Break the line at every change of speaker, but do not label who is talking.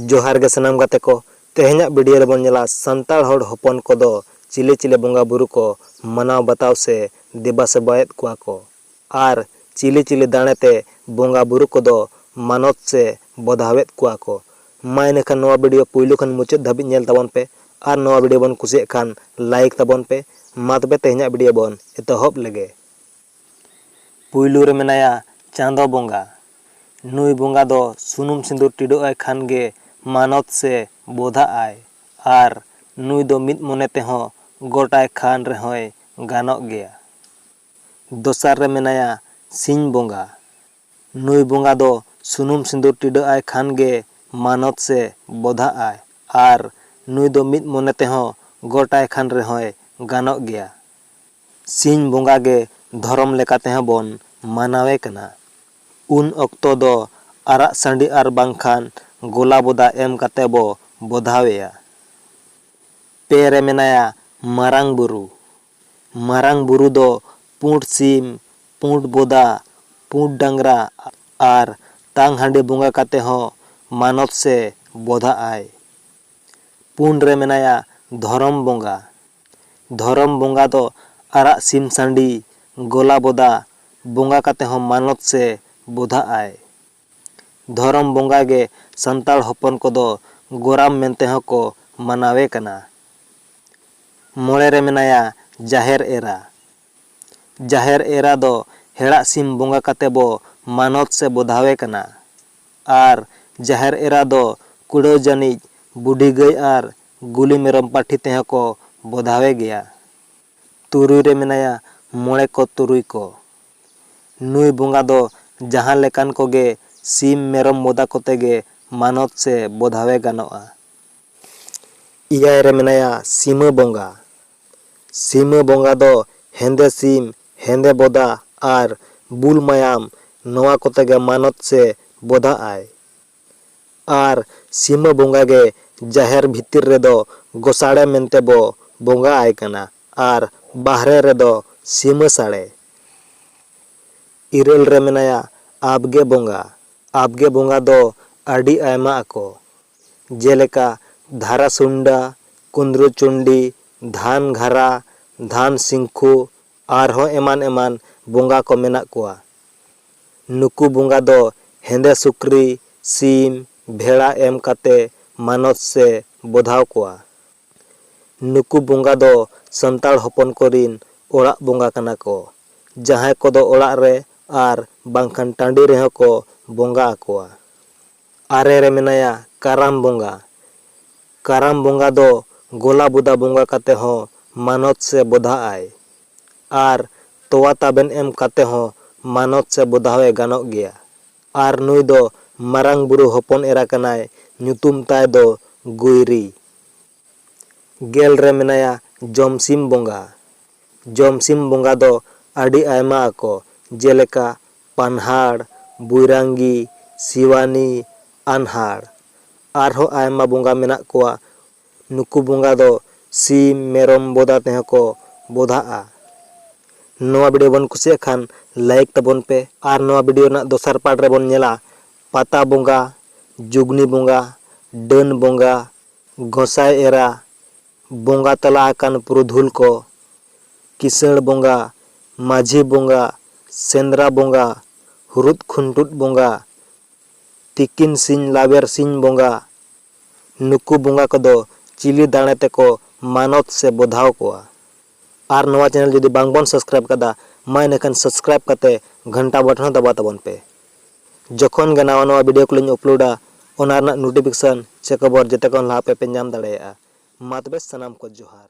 ᱡᱚᱦᱟᱨ ᱜᱮ ᱥᱟᱱᱟᱢ ᱜᱟᱛᱮ ᱠᱚ ᱛᱮᱦᱮᱧᱟᱜ ᱵᱷᱤᱰᱤᱭᱳ ᱨᱮᱵᱚᱱ ᱧᱮᱞᱟ ᱥᱟᱱᱛᱟᱲ ᱦᱚᱲ ᱦᱚᱯᱚᱱ ᱠᱚᱫᱚ ᱪᱤᱞᱮ ᱪᱤᱞᱮ ᱵᱚᱸᱜᱟ ᱵᱩᱨᱩ ᱠᱚ ᱢᱟᱱᱟᱣ ᱵᱟᱛᱟᱣ ᱥᱮ ᱫᱮᱵᱟ ᱥᱮᱵᱟᱭᱮᱫ ᱠᱚᱣᱟ ᱠᱚ ᱟᱨ ᱪᱤᱞᱮ ᱪᱤᱞᱮ ᱫᱟᱲᱮ ᱛᱮ ᱵᱚᱸᱜᱟ ᱵᱩᱨᱩ ᱠᱚᱫᱚ ᱢᱟᱱᱚᱛ ᱥᱮ ᱵᱚᱫᱷᱟᱣᱮᱫ ᱠᱚᱣᱟ ᱠᱚ ᱢᱟ ᱤᱱᱟᱹᱠᱷᱟᱱ ᱱᱚᱣᱟ ᱵᱷᱤᱰᱤᱭᱳ ᱯᱩᱭᱞᱩ ᱠᱷᱚᱱ ᱢᱩᱪᱟᱹᱫ ᱫᱷᱟᱹᱵᱤᱡ ᱧᱮᱞ ᱛᱟᱵᱚᱱ ᱯᱮ ᱟᱨ ᱱᱚᱣᱟ ᱵᱷᱤᱰᱤᱭᱳ ᱵᱚᱱ ᱠᱩᱥᱤᱭᱟᱜ ᱠᱷᱟᱱ ᱞᱟᱭᱤᱠ ᱛᱟᱵᱚᱱ ᱯᱮ ᱢᱟ ᱛᱚᱵᱮ ᱛᱮᱦᱮᱧᱟᱜ ᱵᱷᱤᱰᱤᱭᱳ ᱵᱚᱱ ᱮᱛᱚᱦᱚᱵ ᱞᱮᱜᱮ᱾ ᱯᱩᱭᱞᱩ ᱨᱮ ᱢᱮᱱᱟᱭᱟ ᱪᱟᱸᱫᱚ ᱵᱚᱸᱜᱟ᱾ ᱱᱩᱭ ᱵᱚᱸᱜᱟ ᱫᱚ ᱥᱩᱱᱩᱢ ᱥᱤᱸᱫᱩᱨ ᱴᱤᱰᱟᱹᱜ ᱟᱭ ᱠᱷᱟᱱ ᱜᱮ ᱢᱟᱱᱚᱛ ᱥᱮ ᱵᱚᱫᱷᱟᱜ ᱟᱭ ᱟᱨ ᱱᱩᱭ ᱫᱚ ᱢᱤᱫ ᱢᱚᱱᱮ ᱛᱮᱦᱚᱸ ᱜᱚᱴ ᱟᱭ ᱠᱷᱟᱱ ᱨᱮᱦᱚᱸᱭ ᱜᱟᱱᱚᱜ ᱜᱮᱭᱟ᱾ ᱫᱚᱥᱟᱨ ᱨᱮ ᱢᱮᱱᱟᱭᱟ ᱥᱤᱧ ᱵᱚᱸᱜᱟ᱾ ᱱᱩᱭ ᱵᱚᱸᱜᱟ ᱫᱚ ᱥᱩᱱᱩᱢ ᱥᱤᱸᱫᱩᱨ ᱴᱤᱰᱟᱹᱜ ᱟᱭ ᱠᱷᱟᱱ ᱜᱮ ᱢᱟᱱᱚᱛ ᱥᱮ ᱵᱚᱫᱷᱟᱜ ᱟᱭ ᱟᱨ ᱱᱩᱭ ᱫᱚ ᱢᱤᱫ ᱢᱚᱱᱮ ᱛᱮᱦᱚᱸ ᱜᱚᱴ ᱟᱭ ᱠᱷᱟᱱ ᱨᱮᱦᱚᱸᱭ ᱜᱟᱱᱚᱜ ᱜᱮᱭᱟ᱾ ᱥᱤᱧ ᱵᱚᱸᱜᱟ ᱜᱮ ᱫᱷᱚᱨᱚᱢ ᱞᱮᱠᱟ ᱛᱮᱦᱚᱸ ᱵᱚᱱ ᱢᱟᱱᱟᱣᱮ ᱠᱟᱱᱟ᱾ ᱩᱱ ᱚᱠᱛᱚ ᱫᱚ ᱟᱨᱟᱜ ᱥᱟᱺᱰᱤ ᱟᱨ ᱵᱟᱝ ᱠᱷᱟᱱ ᱜᱚᱞᱟ ᱵᱚᱫᱟ ᱮᱢ ᱠᱟᱛᱮ ᱵᱚ ᱵᱚᱫᱷᱟᱣᱮᱭᱟ᱾ ᱯᱮ ᱨᱮ ᱢᱮᱱᱟᱭᱟ ᱢᱟᱨᱟᱝ ᱵᱩᱨᱩ᱾ ᱢᱟᱨᱟᱝ ᱵᱩᱨᱩ ᱫᱚ ᱯᱩᱸᱰ ᱥᱤᱢ, ᱯᱩᱸᱰ ᱵᱚᱫᱟ, ᱯᱩᱸᱰ ᱰᱟᱝᱨᱟ ᱟᱨ ᱛᱟᱝ ᱦᱟᱺᱰᱤ ᱵᱚᱸᱜᱟ ᱠᱟᱛᱮ ᱦᱚᱸ ᱢᱟᱱᱚᱛ ᱥᱮ ᱵᱚᱫᱷᱟᱜ ᱟᱭ᱾ ᱯᱩᱱ ᱨᱮ ᱢᱮᱱᱟᱭᱟ ᱫᱷᱚᱨᱚᱢ ᱵᱚᱸᱜᱟ᱾ ᱫᱷᱚᱨᱚᱢ ᱵᱚᱸᱜᱟ ᱫᱚ ᱟᱨᱟᱜ ᱥᱤᱢ ᱥᱟᱺᱰᱤ, ᱜᱚᱞᱟ ᱵᱚᱫᱟ, ᱵᱚᱸᱜᱟ ᱠᱟᱛᱮ ᱦᱚᱸ ᱢᱟᱱᱚᱛ ᱥᱮ ᱵᱚᱫᱷᱟᱜ ᱟᱭ᱾ ᱫᱷᱚᱨᱚᱢ ᱵᱚᱸᱜᱟ ᱜᱮ ᱥᱟᱱᱛᱟᱲ ᱦᱚᱯᱚᱱ ᱠᱚᱫᱚ ᱜᱚᱨᱟᱢ ᱢᱮᱱᱛᱮ ᱦᱚᱸ ᱠᱚ ᱢᱟᱱᱟᱣᱮ ᱠᱟᱱᱟ᱾ ᱢᱚᱬᱮ ᱨᱮ ᱢᱮᱱᱟᱭᱟ ᱡᱟᱦᱮᱨ ᱮᱨᱟ᱾ ᱡᱟᱦᱮᱨ ᱮᱨᱟ ᱫᱚ ᱦᱮᱲᱟᱜ ᱥᱤᱢ ᱵᱚᱸᱜᱟ ᱠᱟᱛᱮ ᱵᱚ ᱢᱟᱱᱚᱛ ᱥᱮ ᱵᱚᱫᱷᱟᱣᱮ ᱠᱟᱱᱟ᱾ ᱟᱨ ᱡᱟᱦᱮᱨ ᱮᱨᱟ ᱫᱚ ᱠᱩᱲᱟᱹᱣ ᱡᱟᱹᱱᱤᱡ ᱵᱩᱰᱷᱤ ᱜᱟᱹᱭ ᱟᱨ ᱜᱩᱞᱤ ᱢᱮᱨᱚᱢ ᱯᱟᱹᱴᱷᱤ ᱛᱮᱦᱚᱸ ᱠᱚ ᱵᱚᱫᱷᱟᱣᱮ ᱜᱮᱭᱟ᱾ ᱛᱩᱨᱩᱭ ᱨᱮ ᱢᱮᱱᱟᱭᱟ ᱢᱚᱬᱮ ᱠᱚ ᱛᱩᱨᱩᱭ ᱠᱚ᱾ ᱱᱩᱭ ᱵᱚᱸᱜᱟ ᱫᱚ ᱡᱟᱦᱟᱸ ᱞᱮᱠᱟᱱ ᱠᱚ ᱜᱮ ᱥᱤᱢ ᱢᱮᱨᱚᱢ ᱵᱚᱫᱟ ᱠᱚᱛᱮ ᱜᱮ ᱢᱟᱱᱚᱛ ᱥᱮ ᱵᱚᱫᱷᱟᱣᱮ ᱜᱟᱱᱚᱜᱼᱟ᱾ ᱮᱭᱟᱭ ᱨᱮ ᱢᱮᱱᱟᱭᱟ ᱥᱤᱢᱟᱹ ᱵᱚᱸᱜᱟ᱾ ᱥᱤᱢᱟᱹ ᱵᱚᱸᱜᱟ ᱫᱚ ᱦᱮᱸᱫᱮ ᱥᱤᱢ, ᱦᱮᱸᱫᱮ ᱵᱚᱫᱟ ᱟᱨ ᱵᱩᱞ ᱢᱟᱭᱟᱢ ᱱᱚᱣᱟ ᱠᱚᱛᱮ ᱜᱮ ᱢᱟᱱᱚᱛ ᱥᱮ ᱵᱚᱫᱷᱟᱜᱼᱟᱭ᱾ ᱟᱨ ᱥᱤᱢᱟᱹ ᱵᱚᱸᱜᱟ ᱜᱮ ᱡᱟᱦᱮᱨ ᱵᱷᱤᱛᱤᱨ ᱨᱮᱫᱚ ᱜᱚᱥᱟᱬᱮ ᱢᱮᱱᱛᱮ ᱵᱚ ᱵᱚᱸᱜᱟ ᱟᱭ ᱠᱟᱱᱟ ᱟᱨ ᱵᱟᱦᱨᱮ ᱨᱮᱫᱚ ᱥᱤᱢᱟᱹ ᱥᱟᱬᱮ᱾ ᱤᱨᱟᱹᱞ ᱨᱮ ᱢᱮᱱᱟᱭᱟ ᱟᱵᱽᱜᱮ ᱵᱚᱸᱜᱟ᱾ ᱟᱵᱽᱜᱮ ᱵᱚᱸᱜᱟ ᱫᱚ ᱟᱹᱰᱤ ᱟᱭᱢᱟ ᱟᱠᱚ᱾ ᱡᱮᱞᱮᱠᱟ ᱫᱷᱟᱨᱟ ᱥᱩᱱᱰᱟ, ᱠᱩᱸᱫᱽᱨᱩ ᱪᱩᱱᱰᱤ, ᱫᱷᱟᱱ ᱜᱷᱟᱨᱟ, ᱫᱷᱟᱱ ᱥᱤᱝᱠᱷᱩ ᱟᱨᱦᱚᱸ ᱮᱢᱟᱱ ᱮᱢᱟᱱ ᱵᱚᱸᱜᱟ ᱠᱚ ᱢᱮᱱᱟᱜ ᱠᱚᱣᱟ᱾ ᱱᱩᱠᱩ ᱵᱚᱸᱜᱟ ᱫᱚ ᱦᱮᱸᱫᱮ ᱥᱩᱠᱨᱤ, ᱥᱤᱢ, ᱵᱷᱮᱲᱟ ᱮᱢ ᱠᱟᱛᱮ ᱢᱟᱱᱚᱛ ᱥᱮ ᱵᱚᱫᱷᱟᱣ ᱠᱚᱣᱟ᱾ ᱱᱩᱠᱩ ᱵᱚᱸᱜᱟ ᱫᱚ ᱥᱟᱱᱛᱟᱲ ᱦᱚᱯᱚᱱ ᱠᱚ ᱨᱤᱱ ᱚᱲᱟᱜ ᱵᱚᱸᱜᱟ ᱠᱟᱱᱟ ᱠᱚ᱾ ᱡᱟᱦᱟᱸᱭ ᱠᱚᱫᱚ ᱚᱲᱟᱜ ᱨᱮ ᱟᱨ ᱵᱟᱝᱠᱷᱟᱱ ᱴᱟᱺᱰᱤ ᱨᱮᱦᱚᱸ ᱠᱚ ᱵᱚᱸᱜᱟ ᱟᱠᱚᱣᱟ᱾ ᱟᱨᱮ ᱨᱮ ᱢᱮᱱᱟᱭᱟ ᱠᱟᱨᱟᱢ ᱵᱚᱸᱜᱟ᱾ ᱠᱟᱨᱟᱢ ᱵᱚᱸᱜᱟ ᱫᱚ ᱜᱚᱞᱟ ᱵᱚᱫᱟ ᱵᱚᱸᱜᱟ ᱠᱟᱛᱮ ᱦᱚᱸ ᱢᱟᱱᱚᱛ ᱥᱮ ᱵᱚᱫᱷᱟᱜ ᱟᱭ᱾ ᱟᱨ ᱛᱚᱣᱟ ᱛᱟᱵᱮᱱ ᱮᱢ ᱠᱟᱛᱮ ᱦᱚᱸ ᱢᱟᱱᱚᱛ ᱥᱮ ᱵᱚᱫᱷᱟᱣ ᱮ ᱜᱟᱱᱚᱜ ᱜᱮᱭᱟ᱾ ᱟᱨ ᱱᱩᱭ ᱫᱚ ᱢᱟᱨᱟᱝ ᱵᱩᱨᱩ ᱦᱚᱯᱚᱱ ᱮᱨᱟ ᱠᱟᱱᱟᱭ ᱧᱩᱛᱩᱢ ᱛᱟᱭ ᱫᱚ ᱜᱩᱭᱨᱤ᱾ ᱜᱮᱞ ᱨᱮ ᱢᱮᱱᱟᱭᱟ ᱡᱚᱢᱥᱤᱢ ᱵᱚᱸᱜᱟ᱾ ᱡᱚᱢᱥᱤᱢ ᱵᱚᱸᱜᱟ ᱫᱚ ᱟᱹᱰᱤ ᱟᱭᱢᱟ ᱟᱠᱚ ᱡᱮᱞᱮᱠᱟ ᱯᱟᱱᱦᱟᱲ, ᱵᱩᱭᱨᱟᱝᱜᱤ, ᱥᱤᱣᱟᱱᱤ, ᱟᱱᱦᱟᱲ᱾ ᱟᱨᱦᱚᱸ ᱟᱭᱢᱟ ᱵᱚᱸᱜᱟ ᱢᱮᱱᱟᱜ ᱠᱚᱣᱟ᱾ ᱱᱩᱠᱩ ᱵᱚᱸᱜᱟ ᱫᱚ ᱥᱤᱢ, ᱢᱮᱨᱚᱢ ᱵᱚᱫᱟ ᱛᱮᱦᱚᱸ ᱠᱚ ᱵᱚᱫᱷᱟᱜᱼᱟ᱾ ᱱᱚᱣᱟ ᱵᱷᱤᱰᱤᱭᱳ ᱵᱚᱱ ᱠᱩᱥᱤᱭᱟᱜ ᱠᱷᱟᱱ ᱞᱟᱭᱤᱠ ᱛᱟᱵᱚᱱ ᱯᱮ᱾ ᱟᱨ ᱱᱚᱣᱟ ᱵᱷᱤᱰᱤᱭᱳ ᱨᱮᱱᱟᱜ ᱫᱚᱥᱟᱨ ᱯᱟᱨᱴ ᱨᱮ ᱵᱚᱱ ᱧᱮᱞᱟ ᱯᱟᱛᱟ ᱵᱚᱸᱜᱟ, ᱡᱩᱜᱽᱱᱤ ᱵᱚᱸᱜᱟ, ᱰᱟᱹᱱ ᱵᱚᱸᱜᱟ, ᱜᱚᱸᱥᱟᱭ ᱮᱨᱟ, ᱵᱚᱸᱜᱟ ᱛᱟᱞᱟ ᱟᱠᱟᱱ ᱯᱩᱨᱩᱫᱷᱩᱞ ᱠᱚ, ᱠᱤᱥᱟᱹᱬ ᱵᱚᱸᱜᱟ, ᱢᱟᱹᱡᱷᱤ ᱵᱚᱸᱜᱟ, ᱥᱮᱸᱫᱽᱨᱟ ᱵᱚᱸᱜᱟ, ᱦᱩᱨᱩᱫ ᱠᱷᱩᱱᱴᱩᱫ ᱵᱚᱸᱜᱟ, ᱛᱤᱠᱤᱱ ᱥᱤᱧ ᱞᱟᱣᱮᱨ ᱥᱤᱧ ᱵᱚᱸᱜᱟ, ᱱᱩᱠᱩ ᱵᱚᱸᱜᱟ ᱠᱚᱫᱚ ᱪᱤᱞᱤ ᱫᱟᱬᱮ ᱛᱮᱠᱚ ᱢᱟᱱᱚᱛ ᱥᱮ ᱵᱚᱫᱷᱟᱣ ᱠᱚᱣᱟ? ᱟᱨ ᱱᱚᱣᱟ ᱪᱮᱱᱮᱞ ᱡᱩᱫᱤ ᱵᱟᱝ ᱵᱚᱱ ᱥᱟᱵᱥᱠᱨᱟᱭᱤᱵ ᱟᱠᱟᱫᱟ ᱢᱟ ᱤᱱᱟᱹᱠᱷᱟᱱ ᱥᱟᱵᱥᱠᱨᱟᱭᱤᱵ ᱠᱟᱛᱮ ᱜᱷᱟᱱᱴᱟ ᱵᱚᱴᱚᱱ ᱦᱚᱸ ᱫᱟᱵᱟᱣ ᱛᱟᱵᱚᱱ ᱯᱮ ᱡᱚᱠᱷᱚᱱ ᱜᱮ ᱱᱟᱣᱟ ᱱᱟᱣᱟ ᱵᱷᱤᱰᱤᱭᱳ ᱠᱚᱞᱤᱧ ᱩᱯᱞᱳᱰᱟ ᱚᱱᱟ ᱨᱮᱱᱟᱜ ᱱᱳᱴᱤᱯᱷᱤᱠᱮᱥᱚᱱ ᱪᱮ ᱠᱷᱚᱵᱚᱨ ᱡᱮᱛᱮ ᱠᱷᱚᱱ ᱞᱟᱦᱟ ᱟᱯᱮ ᱯᱮ ᱧᱟᱢ ᱫᱟᱲᱮᱭᱟᱜᱼᱟ ᱢᱟ ᱛᱚᱵᱮ ᱥᱟᱱᱟᱢ ᱠᱚ ᱡᱚᱦᱟᱨ᱾